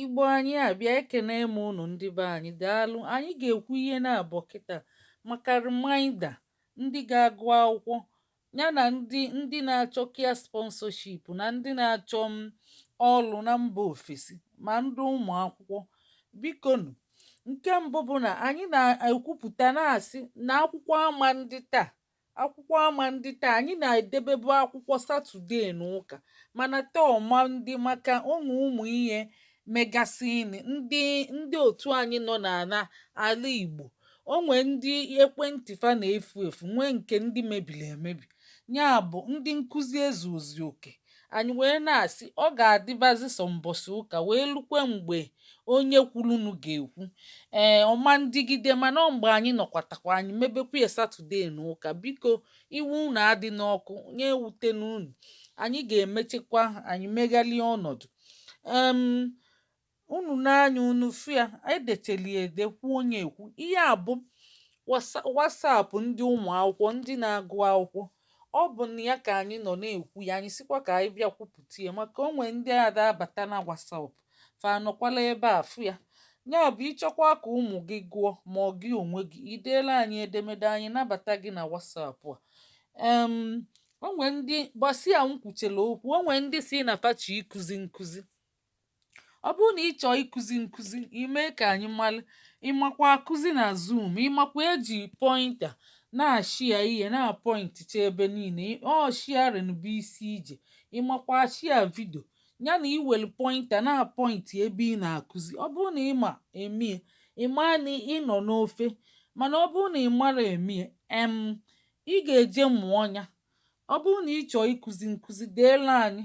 Igbo anyị abịa ekene m unu ndị be anyị daalụ anyị ga-ekwu ihe naabọ kịta maka reminder ndị ga-agụ akwụkwọ ya na ndị ndị na-achọ care sponsorship na ndị na-achọ m mm, ọlụ na mba ofesi ma ndị ụmụ akwụkwọ bikonụ nke mbụ bụ na anyị na-ekwupụta na-asị na akwụkwọ ama ndị taa akwụkwọ ama ndị taa anyị na-edebebu akwụkwọ Saturday na ụka mana taa ọ ma ndị maka o nwe ụmụ ihe megasịnị ndị ndị otu anyị nọ n'ala ala igbo o nwe ndị ekwentị fa na-efu efu nwee nke ndị mebili emebi nya bụ ndị nkụzi ezuozi oke Anyị wee na-asị, ọ ga-adịbazi sọ mbọsị ụka wee lukwe mgbe onye kwurunu ga-ekwu. Ee, ọ ma ndịgide mana ọ mgbe anyị nọkwatakwa anyị mebekwa ya Saturday na ụka. Biko, iwe unu adịna ọkụ, nya ewutena unu. Anyị ga-emechekwa, anyị meghalịa ọnọdụ. Um, unu nee anya unu fụ ya anyị decheli ede kwuo nya ekwu ihe a bụ WhatsApp ndị ụmụ akwụkwọ ndị na-agụ akwụkwọ ọ bụ na ya ka anyị nọ na-ekwu ya anyị sịkwa ka anyị bịa kwupụta ya maka o nwe ndị ada abata na WhatsApp fa anọkwala ebe a fụ ya ya bụ ị chọkwa ka ụmụ gị gụọ ma ọ gị onwe gị i deela anyị edemede anyị nabata gị na WhatsApp a em o nwe ndị gbasi ya nkwuchela okwu o nwe ndị sị na fa chọ ịkụzi nkụzi ọ bụrụ na ị chọọ ịkụzi nkụzi i mee ka anyị mara ị makwa akụzi na zoom ị makwa eji pointer na-ashia ihe na-apọinticha ebe niile ọ sharing bụ isi ije ị makwa ashia video ya na iwelu pointer na-apọinti ebe ị na-akụzi ọ bụrụ na ị ma emie ị ma na ị nọ n'ofe mana ọ bụrụ na ị marọ emie em ị ga-eje mụọ nya ọ bụrụ na ị chọọ ịkụzi nkụzi deela anyị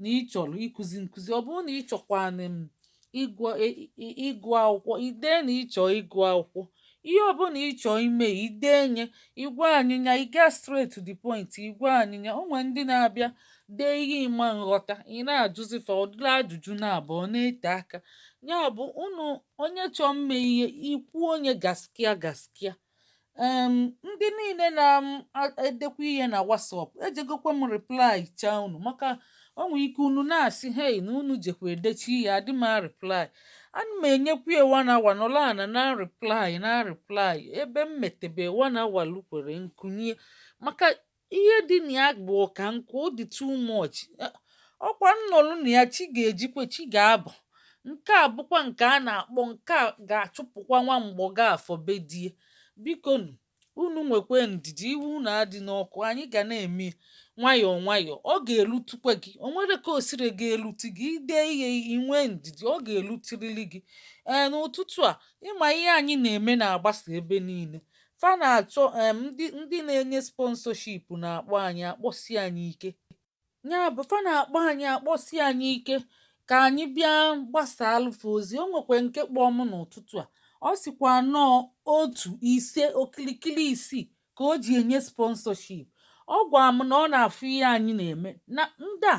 na ị chọrọ ịkụzi nkụzi ọ bụrụ na ị chọkwanụ em ịgụ e, ịgụ akwụkwọ i dee na ị chọ ịgụ akwụkwọ ihe ọbụla ị chọ ime i dee nya ị gwa anyị nya ị gaa straight to the point ị gwa anyị nya o nwere ndị na-abịa dee ihe ị ma nghọta ị na-ajụzi fa ọdụla ajụjụ na-abụ ọ na-ete aka ya bụ unu onye chọọ mme ihe i kwuo nya gaskiya gaskiya um ndị niile na-edekwa ihe na WhatsApp ejegokwa m reply chaa unu maka o nwere ike unu na-asị hei na unu jekwa edecha ihe adị m areply ana m enyekwa ya one hour nọlọ ana na-reply na-reply ebe m metebe one hour lukwere nkunye maka ihe dị na ya bụ ọka nkụ ọ dị too much ọkwa m nọlụ na ya chi ga-ejikwe chi ga-abọ nke a bụkwa nke a na-akpọ nke a ga-achụpụkwa nwa Mgbọgafọ be die biko nụ unu nwekwe ndidi iwe unu adịna ọkụ anyị ga na-eme ya nwayọọ nwayọọ ọ ga-elutukwa gị o nwere ka o siri ga-elutu gị i dee ihe i nwee ndidi ọ ga-elutirili gị ee n'ụtụtụ a ị ma ihe anyị na-eme na-agbasa ebe niile Fa na-achọ um ndị ndị na-enye sponsorship na-akpọ anyị akpọsi anyị ike. Ya bụ fa na-akpọ anyị akpọsi anyị ike ka anyị bịa gbasaalụ fa ozi. O nwekwe nke kpọọ m n'ụtụtụ a. Ọ sịkwa na ọ otu ise okilikili isii ka o ji enye sponsorship. Ọ gwa m na ọ na-afụ ihe anyị na-eme na ndị a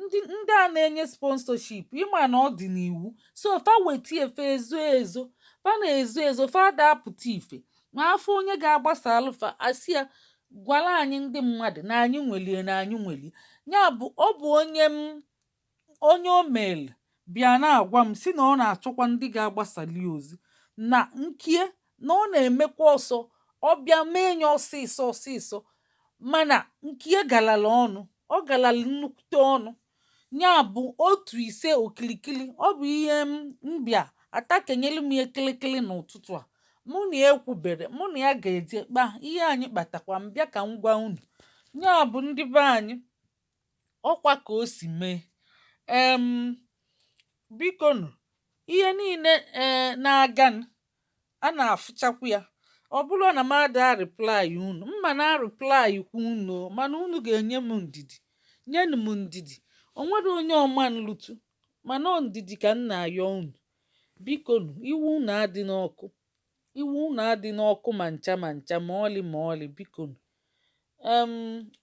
ndị ndị a na-enye sponsorship ị ma na ọ dị n'iwu so fa weta ife ezo ezo fa na-ezo ezo fa ada apụta ife ma a fụ onye ga-agbasaalụ fa a sị ya gwala anyị ndị mmadụ na anyị nwelie na anyị nwelie ya bụ ọ bụ onye m onye o meelụ bịa na-agwa m sị na ọ na-achọkwa ndị ga-agbasali ozi na nkie na ọ na-emekwa ọsọ ọ bịa mee nye ọsịsọ ọsịsọ mana nkie galala ọnụ ọ galala nnukwute ọnụ ya bụ otu ise okilikili ọ bụ ihe m m bịa atakenyelu m ya kịlịkịlị n'ụtụtụ a mụ na ya ekwubere mụ na ya ga-eje kpa ihe anyị kpatakwa m bịa ka m gwa unu ya bụ ndị be anyị ọkwa ka o si mee um biko nụ ihe niile um na-aga nụ a na-afụchakwu ya ọ bụrụ na m ada reply unu m ma na-reply kwu unu mana unu ga-enye m ndidi nyenụ m ndidi o nwerọ onye ọ ma nlutu mana ọ ndidi ka m na-ayọ unu biko nụ iwu unu adịna ọkụ Iwe unu adịna ọkụ ma ncha ma ncha ma ọlị ma ọlị bikonu. Um,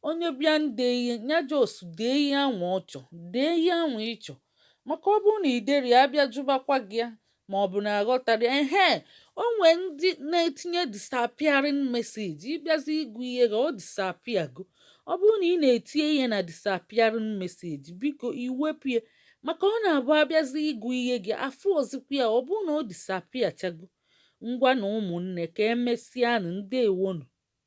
onye bịa nde ihe ya just dee ihe anwa ọ chọ dee ihe anwa ị chọ maka ọ bụrụ na i derọ ya a bịa jụbakwa gị ya ma ọ bụ na aghọtarọ ya ehe o nwee ndị na-etinye disappearing message ị bịazi ịgụ ihe gị ọ disappear go ọ bụrụ na ị na-etinye ihe na disappearing message biko i wepụ ya maka ọ na-abụ a bịazi ịgụ ihe gị afụọzikwa ya ọ bụrụ na ọ disappearchago ngwanụ ụmụnne ka e mesịanụ ndewonụ